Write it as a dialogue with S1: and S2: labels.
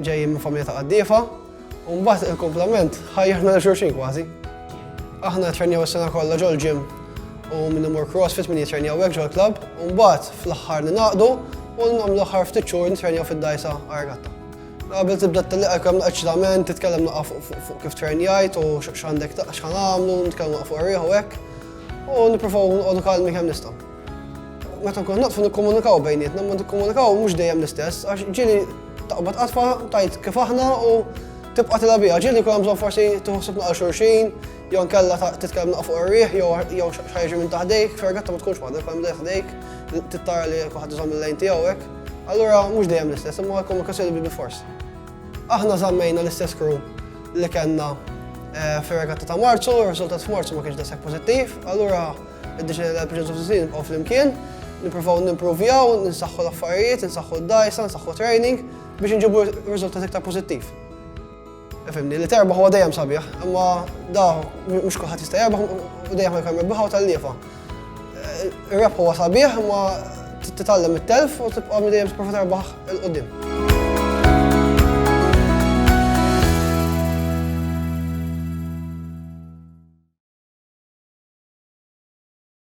S1: Ġejjin minn familja ta' qaddiefa, u mbagħad il-kumplament ħajjirna lil xulxin kważi. Aħna nittrenjaw is-sena kollha ġol-ġim u minn imur CrossFit minn jittrenjaw hekk ġol-klabb, u mbagħad fl-aħħar ningħaqdu u nagħmlu l-aħħar ftit xhur nittrenjaw fid-dgħajsa għar-regatta. Qabel tibda tellieq għalkemm hemm eċitament, titkellem naqra fuq kif trennjajt u x'għandek x'ħa nagħmlu, nitkellmu fuq ir-riħ u hekk, u nippruvaw noqogħdu kalmi kemm nistgħu. Meta nkunu naqfu nikkomunikaw bejnietna, ma nikkomunikaw mhux dejjem l-istess, għax ġieli taqbad qatfa tajt kif aħna u tibqa' tilha biha. Ġieli jkun hemm bżonn forsi tħossib naqra xulxin, jew nkella titkellem naqra fuq ir-riħ, jew xajġi minn taħdejk, fergatta ma tkunx waħda, jkun hemm ħdejk, tittara li kuħadd iżomm il-lejn tiegħu hekk. Allura mhux dejjem l-istess, imma l-komunikazzjoni bi fors. Aħna żammejna l-istess crew li kellna eh, fir-regatta ta' Marzu, r-riżultat f'Marzu ma kienx daqshekk pożittiv, allura Id-deċidejna li għall-proġett of the season nibqgħu flimkien, nippruvaw nimpruvjaw, nsaħħu l-affarijiet, nsaħħu d-dgħajsa, nsaħħu training biex inġibu riżultat iktar pożittiv. Fimni, li terbaħ huwa dejjem sabiħ, imma da mhux kulħadd jista' jerbaħ u dejjem ħajkun rebbiħa u tal-liefa. Ir-rebħ huwa sabiħ, imma Trid titgħallem mit-telf u tibqa' dejjem tipprova terbaħ 'il quddiem.